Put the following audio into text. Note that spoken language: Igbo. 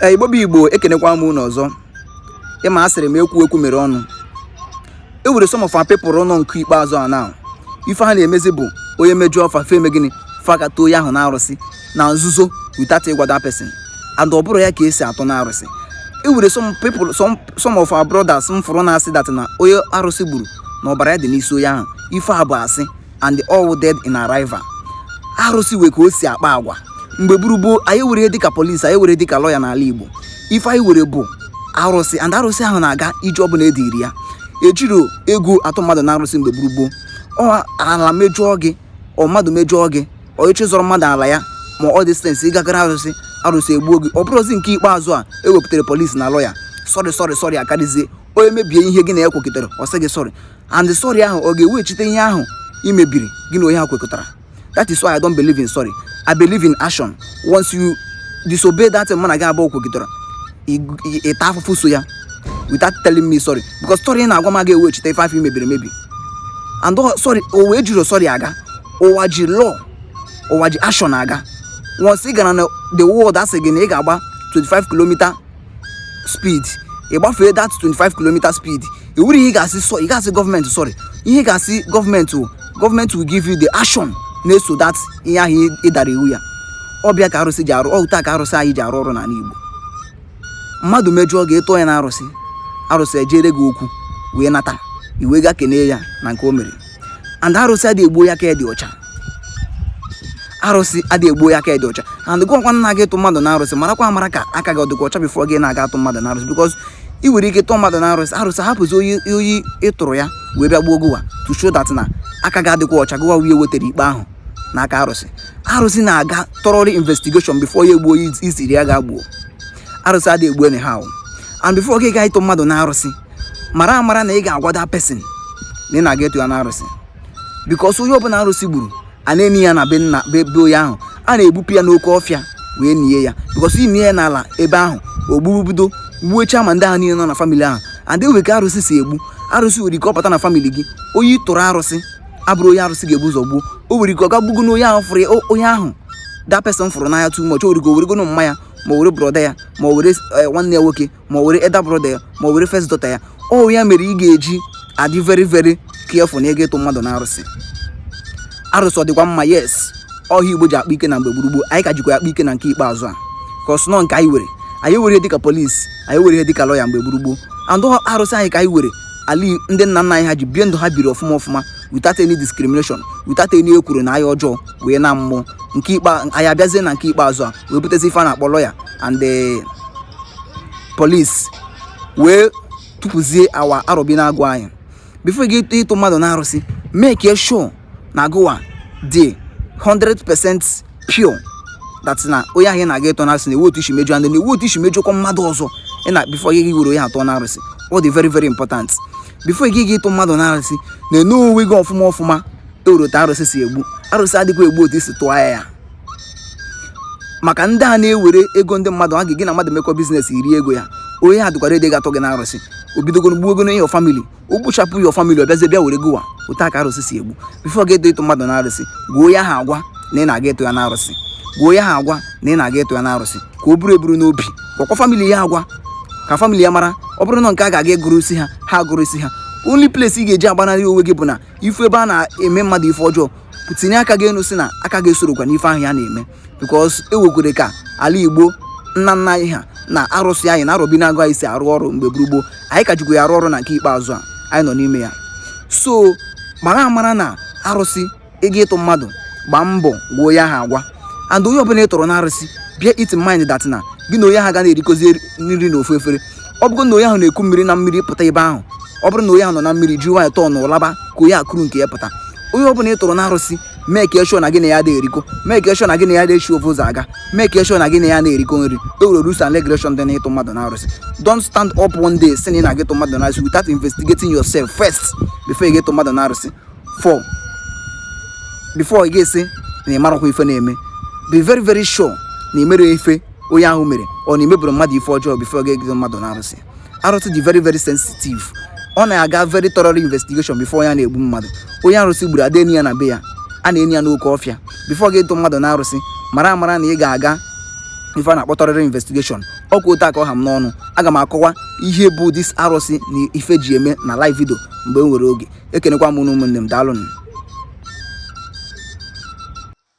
ee igbo bụ igbo ekenekwa m unu ọzọ ịma a sịrị m ekwughị ekwu mere ọnụ e were some of our people nọ nke ikpeazụ a now ife ha na-emezi bụ onye mejọọ fa fa eme gịnị fa ga-atụ onye ahụ na arụsị na nzuzo without ịgwa that person and ọ bụrọ ya ka e si atụ na arụsị e were some people some some of our brothers m fụrụ na-asị that na onye arụsị gburu na ọbara ya dị n'isi onye ahụ ife a bụ asị and all dead in arrival arụsị were ka o si akpa agwa mgbe gboo gboo anyị ewerọ dịka polisi anyị ewerọ dịka lọya n'ala Igbo ife anyị were bụ arụsị and arụsị ahụ na-aga ije ọbụla e ziri ya ejirọ ego atụ mmadụ na arụsị mgbe gboo gboo ọ ala mejọọ gị ọ mmadụ mejọọ gị ọ ị chọ ịzọrọ mmadụ ala ya ma ọ distance ị gagara arụsị arụsị egbuo gị ọ bụrụzi nke ikpeazụ a e wepụtara polisi na lọya sorry sorry sorry akarịzie onye mebie ihe gị na ya kwekọtara ọ sị gị sorry and sorry ahụ ọ ga-eweghachite ihe ahụ i mebiri gị na onye ahụ kwekọtara that is why I don't believe in sorry I believe in action once you disobey that mụ na gị abụọ kwekọtara ị taa afụfụ so ya without telling me sorry because sorry na-agwa m aga eweghachite ife afụ i mebiri emebi and sorry ụwa ejirọ sorry aga ụwa ji law ụwa ji action aga once ị gara na the world asị gị na ị ga-agba 25 kilomita speed ị gbafee that 25 km speed i werọ ihe ị ga-asị sọ ị ga-asị gọọmenti sorry ihe ị ga-asị gọọmenti wụ gọọmenti will give you the action na-eso that ihe ahụ ị dara iwu ya ọ bụ ya ka arụsị ji arụ otu a ka arụsị anyị ji arụ ọrụ n'ala Igbo mmadụ mejọọ gị ị tụọ ya na arụsị arụsị ejere gị okwu wee nata ị wee gaa kenee ya na nke o mere and arụsị adịghị egbu onye aka dị ọcha arụsị adịghị egbu onye aka dị ọcha and gụwa kwa na-aga ịtụ mmadụ na arụsị marakwa amara ka aka gị ọ dịkwa ọcha before gị na-aga atụ mmadụ na arụsị because ị nwere ike tụọ mmadụ na arụsị arụsị hapụzi onye onye ị tụrụ ya wee bịa gbuo gụwa to show that na aka gị adịghịkwa ọcha gụwa wee wetara ikpe ahụ n'aka arụsị arụsị na-aga thoroughly investigation before ya egbuo onye ị sịrị ya gaa gbuo arụsị adịghị egbu anyhow and before gị gaa ịtụ mmadụ na arụsị mara amara na ị ga-agwa that person na ị na-aga ịtụ ya na arụsị because onye ọbụla arụsị gburu a na-eni ya na be na be be onye ahụ a na-egbupụ ya n'oke ọfịa wee nie ya because i nie ya n'ala ebe ahụ ọ ga-ebido gbuchaa ma ndị ahụ niile nọ na famili ahụ and enwere ka arụsị si egbu arụsị nwere ike ọ bata na famili gị onye ị tụrụ arụsị abụrọ onye arụsị ga-ebu ụzọ gbuo o nwere ike ọ gaa gbugonu onye ahụ fụrụ ya o- onye ahụ that person fụrụ n'anya too much o were ike ọ wụrụgonu mma ya ma ọ wụrụ brother ya ma ọ wụrụ eh, nwanne ya nwoke ma ọ wụrụ elder brother ya ma ọ wụrụ first daughter ya ọ ya mere ị ga-eji adị very very careful na ịga ịtụ mmadụ na arụsị arụsị ọ dịkwa mma yes ọ ya igbo ji akpa ike na mgbe gboo gboo anyị ka jikwa akpa ike na nke ikpeazụ a cos na ọ nke anyị were anyị ewerọ ihe dịka polisi anyị ewerọ ihe dịka lọya mgbe gboo gboo and ọ arụsị anyị ka anyị were ala ndị nna nna anyị ha ji bie ndụ ha biri ọfụma ọfụma without any discrimination without any ekworo na anya ọjọọ wee na mmụọ nke ikpe anyị abịazie na nke ikpeazụ a wee butezi ife a na-akpọ lọya and the police wee tụpụzie our arọbinagụ anyị before gị ịtụ mmadụ na arụsị make sure na gịwa dị 100% pure that na onye ahụ ị na-aga ịtụ n'arụsị na ewerọ otu i si mejọ and na ewerọ otu i si mejọkwa mmadụ ọzọ ị na before gị gị were onye a tụọ n'arụsị ọ dị very very important before gị gị ịtụ mmadụ n'arụsị na-ene onwe gị ọfụma ọfụma ewere otu arụsị si egbu arụsị adịghị egbu otu i si tụọ ya ya maka ndị a na-ewere ego ndị mmadụ a gị na mmadụ mekọ business i rie ego ya onye a dịkwa ready ga-atụ gị na arụsị o bidogoro gbuwego na your family o gbuchapụ your family ọ bịazie bịa were gịwa otu a ka arụsị si egbu before gị ịtụ mmadụ na arụsị gwuo ya agwa na ị na-aga ịtụ ya na arụsị gwuo ya agwa na ị na-aga ịtụ ya na arụsị ka o buru eburu n'obi gwakwa family ya agwa ka family ya mara ọ bụrụ na nke ha ga-aga ịgọrọ isi ha ha agọrọ isi ha only place ị ga-eji agbanarị onwe gị bụ na ị fụ ebe a na-eme mmadụ ife ọjọọ tinye aka gị enu sị na aka gị esorokwa n'ife ahụ ya na-eme because ewekwere ka ala igbo nna nna anyị ha na arụsị anyị na arọbinagụ anyị si arụ ọrụ mgbe gboo gboo anyị ka jikwa ya arụ ọrụ na nke ikpeazụ a anyị nọ n'ime ya so mara amara na arụsị ị ga ịtụ mmadụ gbaa mbọ gwuo ya agwa and onye ọbụla ị tụrụ na arụsị bear it mind that na gị na onye ahụ aga na-erikọzi nri na ofu efere ọ bụrụ na onye ahụ na-eku mmiri na mmiri pụta ebe ahụ ọ bụrụ na onye ahụ nọ na mmiri ji nwayọọ tọọ na ụlaba ka onye a kuru nke ya pụta onye ọbụla ị tụrụ na arụsị make sure na gị na ya adị erikọ make sure na gị na ya adị eshi ofu ụzọ aga make sure na gị na ya ana-erikọ nri ewere rules and regulation dị n'ịtụ mmadụ na arụsị don't stand up one day sị na ị na-aga ịtụ mmadụ na arụsị without investigating yourself first before ị ga-ịtụ mmadụ na arụsị for before ị ga-asị na ị marọkwa ife na-eme be very very sure na i merọ ife onye ahụ mere or na i mebụrọ mmadụ ife ọjọọ before gị ịtụ mmadụ na arụsị arụsị dị very very sensitive ọ na-aga very thorough investigation before ọ na-egbu mmadụ onye arụsị gburu ada eni ya na be ya a na-eni ya n'oke ọfịa before gị ịtụ mmadụ na arụsị mara amara na ị ga-aga ife a na-akpọ thorough investigation ọ kwa otu a ka ọ ha m n'ọnụ aga m akọwa ihe bụ this arụsị na ife e ji eme na live video mgbe m nwere oge ekenekwa m ụmụnne m daalụnụ